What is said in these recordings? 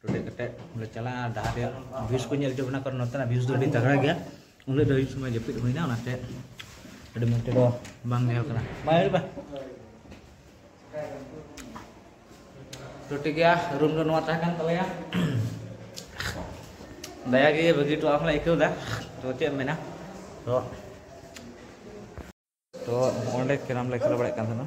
ᱴᱩᱴᱮ ᱠᱟᱛᱮ ᱞᱮ ᱪᱟᱞᱟᱜᱼᱟ ᱰᱟᱦᱟᱨ ᱨᱮᱭᱟᱜ ᱵᱷᱤᱭᱩᱥ ᱠᱚ ᱧᱮᱞ ᱦᱚᱪᱚ ᱵᱚᱱᱟ ᱠᱟᱨᱚᱱ ᱱᱚᱛᱮᱱᱟᱜ ᱵᱷᱤᱭᱩᱥ ᱫᱚ ᱟᱹᱰᱤ ᱛᱟᱜᱽᱲᱟ ᱜᱮᱭᱟ ᱩᱱᱟᱹᱜ ᱫᱚ ᱟᱹᱭᱩᱵ ᱥᱚᱢᱚᱭ ᱡᱟᱹᱯᱤᱫ ᱦᱩᱭᱱᱟ ᱚᱱᱟᱛᱮ ᱟᱹᱰᱤ ᱢᱚᱡᱽ ᱛᱮᱫᱚ ᱵᱟᱝ ᱧᱮᱞ ᱠᱟᱱᱟ ᱵᱟᱭ ᱦᱩᱭᱩᱜᱼᱟ ᱛᱚ ᱴᱷᱤᱠ ᱜᱮᱭᱟ ᱨᱩᱢ ᱫᱚ ᱱᱚᱣᱟ ᱛᱟᱦᱮᱸ ᱠᱟᱱ ᱛᱟᱞᱮᱭᱟ ᱫᱟᱭᱟ ᱜᱮ ᱵᱷᱟᱹᱜᱤ ᱴᱚ ᱟᱢ ᱞᱮ ᱟᱹᱭᱠᱟᱹᱣᱫᱟ ᱛᱚ ᱪᱮᱫ ᱮᱢ ᱢᱮᱱᱟ ᱛᱚ ᱛᱚ ᱚᱸᱰᱮ ᱠᱮᱨᱟᱢ ᱞᱮ ᱠᱷᱮᱞ ᱵᱟᱲᱟᱭᱮᱫ ᱠᱟᱱ ᱛᱟᱦᱮᱱᱟ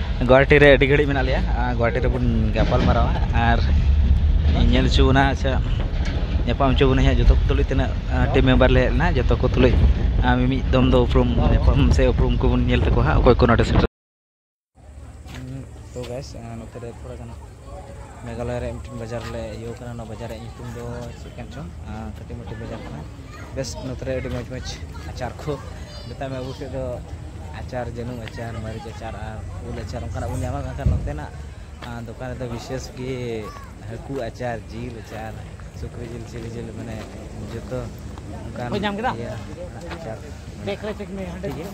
ᱜᱳᱦᱟᱴᱤ ᱨᱮ ᱟᱹᱰᱤ ᱜᱷᱟᱹᱲᱤᱡ ᱢᱮᱱᱟᱜ ᱞᱮᱭᱟ ᱟᱨ ᱜᱳᱦᱟᱴᱤ ᱨᱮᱵᱚᱱ ᱜᱟᱯᱟᱞ ᱢᱟᱨᱟᱣᱟ ᱟᱨ ᱧᱮᱞ ᱦᱚᱪᱚ ᱵᱚᱱᱟ ᱥᱮ ᱧᱟᱯᱟᱢ ᱦᱚᱪᱚ ᱵᱚᱱᱟᱭ ᱦᱟᱸᱜ ᱡᱚᱛᱚ ᱠᱚ ᱛᱩᱞᱩᱡ ᱛᱤᱱᱟᱹᱜ ᱴᱤᱢ ᱢᱮᱢᱵᱟᱨ ᱞᱮ ᱦᱮᱡ ᱞᱮᱱᱟ ᱡᱚᱛᱚ ᱠᱚ ᱛᱩᱞᱩᱡ ᱟᱨ ᱢᱤᱢᱤᱫ ᱫᱚᱢ ᱫᱚ ᱩᱯᱨᱩᱢ ᱧᱟᱯᱟᱢ ᱥᱮ ᱩᱯᱨᱩᱢ ᱠᱚᱵᱚᱱ ᱧᱮᱞ ᱛᱟᱠᱚᱣᱟ ᱦᱟᱸᱜ ᱚᱠᱚᱭ ᱠᱚ ᱱᱚᱰᱮ ᱥᱮᱴᱮᱨ ᱛᱳ ᱜᱟᱭᱤᱥ ᱱᱚᱛᱮ ᱨᱮ ᱛᱷᱚᱲᱟ ᱜᱟᱱ ᱢᱮᱜᱷᱟᱞᱚᱭ ᱨᱮ ᱢᱤᱫᱴᱮᱱ ᱵᱟᱡᱟᱨ ᱞᱮ ᱤᱭᱟᱹ ᱠᱟᱱᱟ ᱚᱱᱟ ᱵᱟᱡᱟᱨ ᱨᱮᱭᱟᱜ ᱧᱩᱛᱩᱢ ᱫᱚ ᱪᱮᱫ ᱠᱟᱱ ᱪᱚᱝ ᱠᱟᱹᱴᱤᱡ ᱢᱟᱹᱴᱤᱡ ᱵᱟᱡᱟᱨ ᱠᱟᱱᱟ ᱵᱮᱥ ᱱᱚᱛᱮ ᱨᱮ ᱟᱹᱰᱤ ᱢᱚᱡᱽ ᱢᱚᱡᱽ ᱟᱪᱟᱨ ᱠᱚ ᱢᱮᱛᱟᱜ ᱢᱮ ᱟᱵᱚ ᱥᱮᱫ ᱫᱚ ᱟᱪᱟᱨ ᱡᱟᱹᱱᱩᱢ ᱟᱪᱟᱨ ᱢᱟᱹᱨᱤᱪ ᱟᱪᱟᱨ ᱟᱨ ᱩᱞ ᱟᱪᱟᱨ ᱚᱱᱠᱟᱱᱟᱜ ᱵᱚᱱ ᱧᱟᱢᱟ ᱢᱮᱱᱠᱷᱟᱱ ᱱᱚᱛᱮᱱᱟᱜ ᱫᱚᱠᱟᱱ ᱨᱮᱫᱚ ᱵᱤᱥᱮᱥ ᱜᱮ ᱦᱟᱹᱠᱩ ᱟᱪᱟᱨ ᱡᱤᱞ ᱟᱪᱟᱨ ᱥᱩᱠᱨᱤ ᱡᱤᱞ ᱪᱤᱞᱤ ᱡᱤᱞ ᱢᱟᱱᱮ ᱡᱚᱛᱚ ᱚᱱᱠᱟᱱ ᱟᱪᱟᱨ ᱴᱷᱤᱠ ᱜᱮᱭᱟ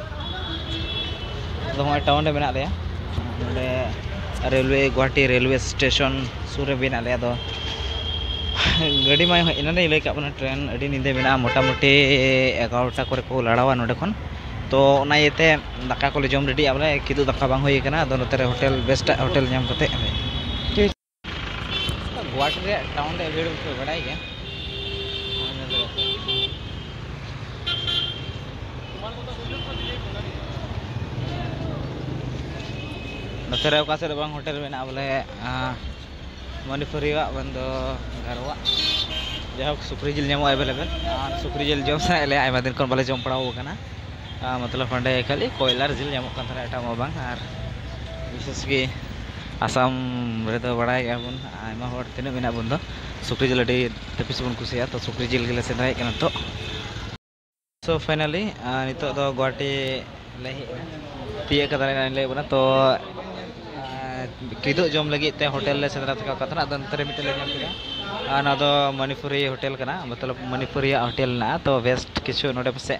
ᱟᱫᱚ ᱦᱚᱸᱜᱼᱚᱭ ᱴᱟᱣᱩᱱ ᱨᱮ ᱢᱮᱱᱟᱜ ᱞᱮᱭᱟ ᱱᱚᱰᱮ ᱨᱮᱞᱣᱮ ᱜᱩᱣᱟᱦᱟᱴᱤ ᱨᱮᱞᱣᱮ ᱥᱴᱮᱥᱚᱱ ᱥᱩᱨ ᱨᱮ ᱢᱮᱱᱟᱜ ᱞᱮᱭᱟ ᱟᱫᱚ ᱜᱟᱹᱰᱤ ᱢᱟ ᱮᱱᱟᱱ ᱨᱮᱧ ᱞᱟᱹᱭ ᱠᱟᱜ ᱵᱚᱱᱟ ᱴᱨᱮᱱ ᱟᱹᱰᱤ ᱧᱤᱫᱟᱹ ᱢᱮᱱᱟᱜᱼᱟ ᱢᱚᱴᱟᱢᱩᱴᱤ ᱮᱜᱟᱨᱚᱴᱟ ᱠᱚᱨᱮ ᱠᱚ ᱞᱟᱲᱟᱣᱟ ᱱᱚᱰᱮ ᱠᱷᱚᱱ ᱛᱚ ᱚᱱᱟ ᱤᱭᱟᱹᱛᱮ ᱫᱟᱠᱟ ᱠᱚᱞᱮ ᱡᱚᱢ ᱨᱮᱰᱤᱭᱮᱜᱼᱟ ᱵᱚᱞᱮ ᱠᱤᱫᱩᱵ ᱫᱟᱠᱟ ᱵᱟᱝ ᱦᱩᱭ ᱠᱟᱱᱟ ᱟᱫᱚ ᱱᱚᱛᱮ ᱨᱮ ᱦᱳᱴᱮᱞ ᱵᱮᱥᱴᱟᱜ ᱦᱳᱴᱮᱞ ᱧᱟᱢ ᱠᱟᱛᱮᱫ ᱜᱩᱣᱟᱦᱟᱴᱤ ᱨᱮᱭᱟᱜ ᱴᱟᱣᱩᱱ ᱨᱮᱭᱟᱜ ᱵᱷᱤᱲ ᱯᱮ ᱵᱟᱰᱟᱭ ᱜᱮᱭᱟ ᱱᱚᱛᱮ ᱨᱮ ᱚᱠᱟ ᱥᱮᱫ ᱨᱮ ᱵᱟᱝ ᱦᱳᱴᱮᱞ ᱢᱮᱱᱟᱜᱼᱟ ᱵᱚᱞᱮ ᱢᱚᱱᱤᱯᱩᱨᱤᱭᱟᱜ ᱵᱟᱝ ᱫᱚ ᱜᱟᱨᱣᱟᱜ ᱡᱟᱭᱦᱳᱠ ᱥᱩᱠᱨᱤ ᱡᱤᱞ ᱧᱟᱢᱚᱜᱼᱟ ᱮᱵᱮᱞᱮᱵᱮᱞ ᱟᱨ ᱥᱩᱠᱨᱤ ᱡᱤᱞ ᱡᱚᱢ ᱥᱟᱱᱟᱭᱮᱫ ᱞᱮᱭᱟ ᱟᱭᱢᱟ ᱫᱤᱱ ᱠᱷᱚᱱ ᱵᱟᱞᱮ ᱡᱚᱢ ᱵᱟᱲᱟᱣ ᱠᱟᱱᱟ ᱢᱚᱛᱞᱚᱵ ᱚᱸᱰᱮ ᱠᱷᱟᱹᱞᱤ ᱠᱚᱭᱞᱟ ᱟᱨ ᱡᱤᱞ ᱧᱟᱢᱚᱜ ᱠᱟᱱ ᱛᱟᱦᱮᱱᱟ ᱮᱴᱟᱜ ᱢᱟ ᱵᱟᱝ ᱟᱨ ᱵᱤᱥᱮᱥ ᱜᱮ ᱟᱥᱟᱢ ᱨᱮᱫᱚ ᱵᱟᱲᱟᱭ ᱜᱮᱭᱟ ᱵᱚᱱ ᱟᱭᱢᱟ ᱦᱚᱲ ᱛᱤᱱᱟᱹᱜ ᱢᱮᱱᱟᱜ ᱵᱚᱱ ᱫᱚ ᱥᱩᱠᱨᱤ ᱡᱤᱞ ᱟᱹᱰᱤ ᱛᱟᱹᱯᱤᱥ ᱵᱚᱱ ᱠᱩᱥᱤᱭᱟᱜᱼᱟ ᱛᱳ ᱥᱩᱠᱨᱤ ᱡᱤᱞ ᱜᱮᱞᱮ ᱥᱮᱸᱫᱽᱨᱟᱭᱮᱫ ᱠᱟᱱᱟ ᱱᱤᱛᱚᱜ ᱥᱳ ᱯᱷᱟᱭᱱᱟᱞᱤ ᱱᱤᱛᱚᱜ ᱫᱚ ᱜᱳᱦᱟᱴᱤ ᱞᱮ ᱦᱮᱡ ᱮᱱᱟ ᱛᱤᱭᱳᱜ ᱠᱟᱫᱟᱞᱮ ᱱᱚᱜᱼᱚᱭ ᱞᱟᱹᱭᱟᱫ ᱵᱚᱱᱟ ᱛᱳ ᱠᱤᱫᱩᱵ ᱡᱚᱢ ᱞᱟᱹᱜᱤᱫ ᱛᱮ ᱦᱳᱴᱮᱞ ᱞᱮ ᱥᱮᱸᱫᱽᱨᱟ ᱛᱷᱟᱠᱟᱣ ᱟᱠᱟᱫ ᱛᱟᱦᱮᱱᱟ ᱟᱫᱚ ᱱᱚᱛᱮ ᱨᱮ ᱢᱤᱫᱴᱮᱱ ᱞᱮ ᱧᱟᱢ ᱠᱮᱫᱟ ᱟᱨ ᱱᱚᱣᱟ ᱫᱚ ᱢᱚᱱᱤᱯᱩᱨᱤ ᱦᱳᱴᱮᱞ ᱠᱟᱱᱟ ᱢᱚᱛᱞᱚᱵ ᱢᱚᱱᱤᱯᱩᱨᱤᱭᱟᱜ ᱦᱳᱴᱮᱞ ᱢᱮᱱᱟᱜᱼᱟ ᱛᱳ ᱵᱮᱥᱴ ᱠᱤᱪᱷᱩ ᱱᱚᱰᱮ ᱯᱟᱥᱮᱡ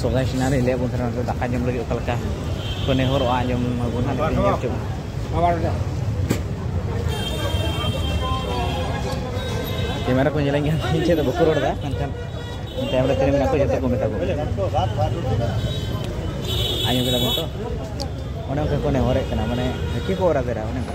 ᱥᱚᱜᱟᱭ ᱥᱤᱱᱟ ᱨᱮ ᱞᱟᱹᱭ ᱵᱚᱱ ᱛᱟᱦᱮᱱᱟ ᱫᱟᱠᱟ ᱡᱚᱢ ᱞᱟᱹᱜᱤᱫ ᱚᱠᱟ ᱞᱮᱠᱟ ᱠᱚ ᱱᱮᱦᱚᱨᱚᱜᱼᱟ ᱟᱸᱡᱚᱢ ᱢᱟᱵᱚᱱ ᱦᱟᱸᱜ ᱧᱮᱞ ᱦᱚᱪᱚ ᱠᱮᱢᱮᱨᱟ ᱠᱚ ᱧᱮᱞᱮᱧ ᱠᱟᱱ ᱤᱧ ᱴᱷᱮᱱ ᱫᱚ ᱵᱟᱠᱚ ᱨᱚᱲ ᱮᱫᱟ ᱢᱮᱱᱠᱷᱟᱱ ᱛᱟᱭᱚᱢ ᱨᱮ ᱛᱤᱱᱟᱹᱜ ᱢᱮᱱᱟᱜ ᱠᱚ ᱡᱚᱛᱚ ᱠᱚ ᱢᱮᱛᱟ ᱠᱚ ᱟᱸᱡᱚᱢ ᱠᱮᱫᱟ ᱵᱚᱱ ᱛᱚ ᱚᱱᱮ ᱚᱱᱠᱟ ᱠᱚ ᱱᱮᱦᱚᱨᱮᱫ ᱠᱟᱱᱟ ᱢᱟᱱᱮ ᱦᱟᱹᱠᱤ ᱠᱚ ᱚᱨᱟ ᱫᱮᱨᱟ ᱚᱱᱮ ᱚᱱᱠᱟ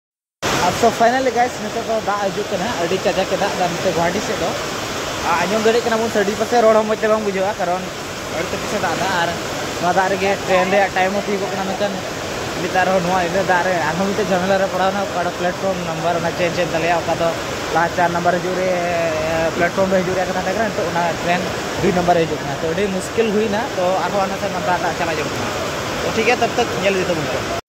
ᱥᱚ ᱯᱷᱟᱭᱱᱟᱞᱤ ᱜᱟᱭᱥ ᱱᱤᱛᱚᱜ ᱫᱚ ᱫᱟᱜ ᱦᱤᱡᱩᱜ ᱠᱟᱱᱟ ᱟᱹᱰᱤ ᱠᱟᱡᱟᱠ ᱮ ᱫᱟᱜ ᱮᱫᱟ ᱱᱚᱛᱮ ᱜᱩᱣᱟᱦᱟᱴᱤ ᱥᱮᱫ ᱫᱚ ᱟᱸᱡᱚᱢ ᱫᱟᱲᱮᱭᱟᱜ ᱠᱟᱱᱟ ᱵᱚᱱ ᱥᱟᱰᱮ ᱯᱟᱥᱮ ᱨᱚᱲ ᱦᱚᱸ ᱢᱚᱡᱽ ᱛᱮ ᱵᱟᱝ ᱵᱩᱡᱷᱟᱹᱜᱼᱟ ᱠᱟᱨᱚᱱ ᱟᱹᱰᱤ ᱛᱮᱫ ᱯᱟᱥᱮ ᱫᱟᱜ ᱮᱫᱟ ᱟᱨ ᱱᱚᱣᱟ ᱫᱟᱜ ᱨᱮᱜᱮ ᱴᱨᱮᱱ ᱨᱮᱭᱟᱜ ᱴᱟᱭᱤᱢ ᱦᱚᱸ ᱛᱤᱭᱳᱜᱚᱜ ᱠᱟᱱᱟ ᱢᱮᱱᱠᱷᱟᱱ ᱱᱮᱛᱟᱨ ᱦᱚᱸ ᱱᱚᱣᱟ ᱤᱱᱟᱹ ᱫᱟᱜ ᱨᱮ ᱟᱨᱦᱚᱸ ᱢᱤᱫᱴᱮᱱ ᱡᱷᱟᱢᱮᱞᱟ ᱨᱮ ᱯᱟᱲᱟᱣ ᱮᱱᱟ ᱚᱠᱟᱴᱟᱜ ᱯᱞᱟᱴᱯᱷᱚᱨᱢ ᱱᱟᱢᱵᱟᱨ ᱚᱱᱟ ᱪᱮᱧᱡᱽ ᱮᱱ ᱛᱟᱞᱮᱭᱟ ᱚᱠᱟ ᱫᱚ ᱞᱟᱦᱟ ᱪᱟᱨ ᱱᱟᱢᱵᱟᱨ ᱦᱤᱡᱩᱜ ᱨᱮ ᱯᱞᱟᱴᱯᱷᱚᱨᱢ ᱨᱮ ᱦᱤᱡᱩᱜ ᱨᱮᱭᱟᱜ ᱠᱟᱛᱷᱟ ᱛᱟᱦᱮᱸ ᱠᱟᱱᱟ ᱱᱤᱛᱚᱜ ᱚᱱᱟ ᱴᱨᱮᱱ ᱫᱩᱭ ᱱᱟᱢᱵᱟᱨ ᱨᱮ ᱦᱤᱡᱩᱜ ᱠᱟᱱᱟ ᱛᱚ ᱟᱹᱰᱤ ᱢᱩᱥᱠᱤᱞ ᱦᱩᱭᱱᱟ ᱛᱚ ᱟᱨᱦᱚᱸ ᱚᱱᱟᱛᱮ ᱫᱟᱜ ᱫᱟᱜ ᱪᱟᱞᱟᱜ ᱡᱟᱹᱨᱩᱲ ᱠᱟᱱᱟ ᱛᱚ ᱴᱷᱤᱠ ᱜᱮᱭᱟ ᱛᱚᱵ ᱛᱚᱠ ᱧᱮᱞ ᱤᱫᱤ ᱛᱟᱵᱚᱱ ᱯᱮ